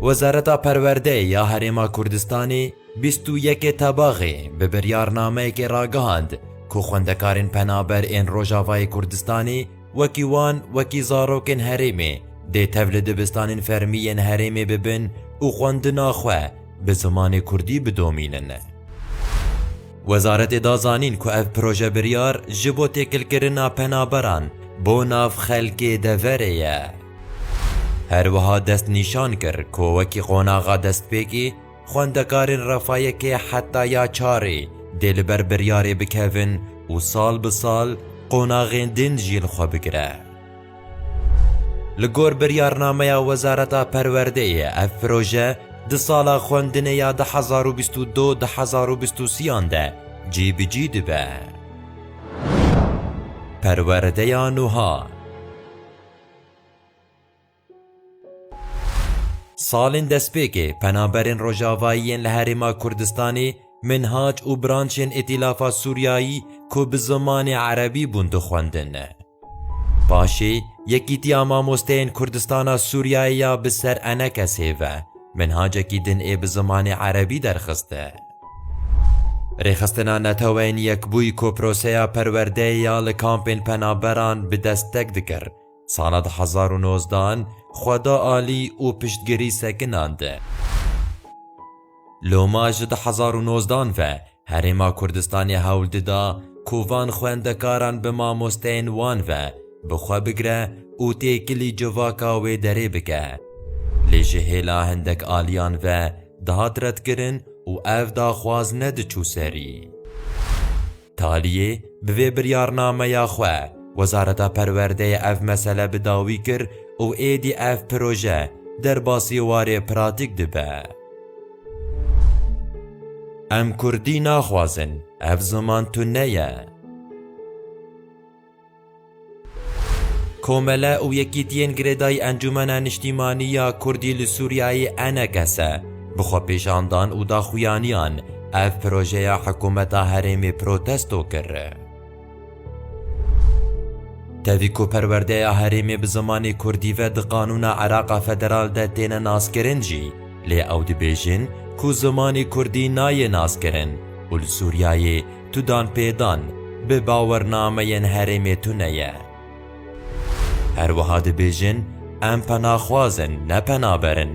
Wezareta Perwerdeyê ya Herêma Kurdistanê bîst û yekê tebaxê bi biryarnameyekê ragihand ku xwendekarên penaber ên Rojavayê Kurdistanê wekî wan wekî zarokên herêmê dê tev li dibistanên fermî yên herêmê bibin û xwendina xwe bi zimanê kurdî bidomînin. Wezaretê da zanîn ku ev projebiryar ji bo têkilkirina penaberan bo nav xelkê deverê ye. Her wiha destnîşan kir ku wekî qonaxa destpêkî, xwendekarên refa yekê heta ya çarê dê li ber biryarê bikevin û sal bi sal qonaxên din jî li xwe bigire. Li gor biryarnameya Wezareta Perwerdeyê ev proje di sala xwendinê ya du hezar û bîst û du du hezar û bîst û sî-yan de cîbicî dibe. Perwerdeya nuha. Salên destpêkê penaberên Rojavayî yên li Herêma Kurdistanê, Minhac û branşên Îtîlafa Sûriyayî ku bi zimanê Erebî bûn dixwendin. Paşê Yekîtiya Mamosteyên Kurdistana Sûriyayê ya bi ser Enekesê ve minhacekî din ê bi zimanê Erebî derxiste. Rêxistina Neteweyên Yekbûyî ku proseya perwerdeyê ya li kampên penaberan bi dest tek dikir, Sala du hezar û nozdeh an xwe da alî û piştgirî sekinan di. Loma ji du hezar û nozdeh an ve Herêma Kurdistanê hewl dida ku van xwendekaran bi mamosteyên wan ve bi xwe bigire û têkilî civaka wê derê bike. Lê ji hêla hindek aliyan ve dihat redkirin û ev daxwaz nediçû serî. Taliyê bi vê biryarnameya xwe Wezareta Perwerdeyê ev mesele bi dawî kir û êdî ev proje derbasî warê pratîk dibe. Em kurdî naxwazin, ev ziman tune ye. Komele û yekîtiyên girêdayî Encûmena Niştîmanî ya Kurdî li Sûriyeyê Eneges e, bi xwepêşandan û daxuyaniyan ev projeya hikûmeta herêmê protesto kir. Tevî ku perwerdeya herêmê bi zimanê Kurdî ve di qanûna Îraqa Federal de têne naskirin jî, lê ew dibêjin ku zimanê Kurdî nayê naskirin û li Sûriyeyê Tu dan pê dan bi bawernameyên herêmê tu ne ye. Her wiha dibêjin em penaxwaz in ne penaber in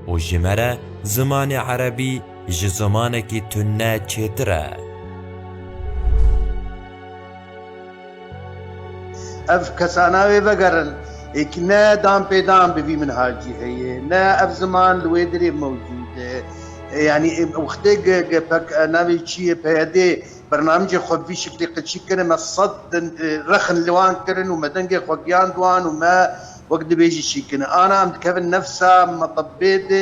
û ji me re zimanê erebî ji zimanekî tu ne çêtir e. Ev kesa navê vegerin ê ki ne dan pê dan bi vî minhacî heye, ne ev ziman li wê dirê mewcûd e. Yanî wextê gpk navê çi ye, pyd, bernamicê xwe bi vî şiklê qeçî kir, me sed rexn li wan kirin û me dengê xwe giyand wan û me wek dibêjî çî kirin. Ana em dikevin nefsa metebê de.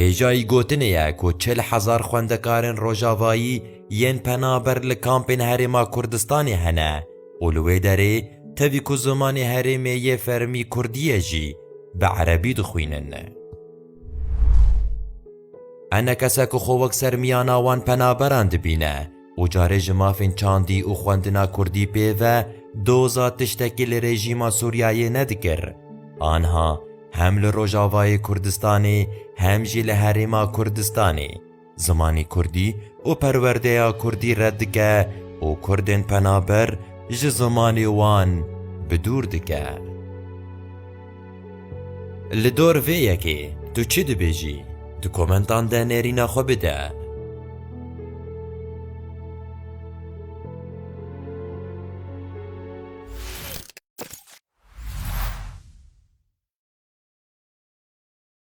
Hêjayî gotinê ye ku çil hezar xwendekarên rojavayî yên penaber li kampên Herêma Kurdistanê hene û li wê derê tevî ku zimanê herêmê yê fermî kurdî ye jî bi erebî dixwînin. Hene kese ku xwe wek sermiyana wan penaberan dibîne, û carê ji mafên çandî û xwendina kurdî pê ve doza tiştekî li rejîma Sûriyeyê nedikir, anha hem li Rojavayê Kurdistanê hem jî li herêma Kurdistanê zimanê kurdî û perwerdeya kurdî red dike û kurdên penaber ji zimanê wan bi dûr dike. Li dor vê yekê tu çi dibêjî? Di komentan de nêrîna xwe bide.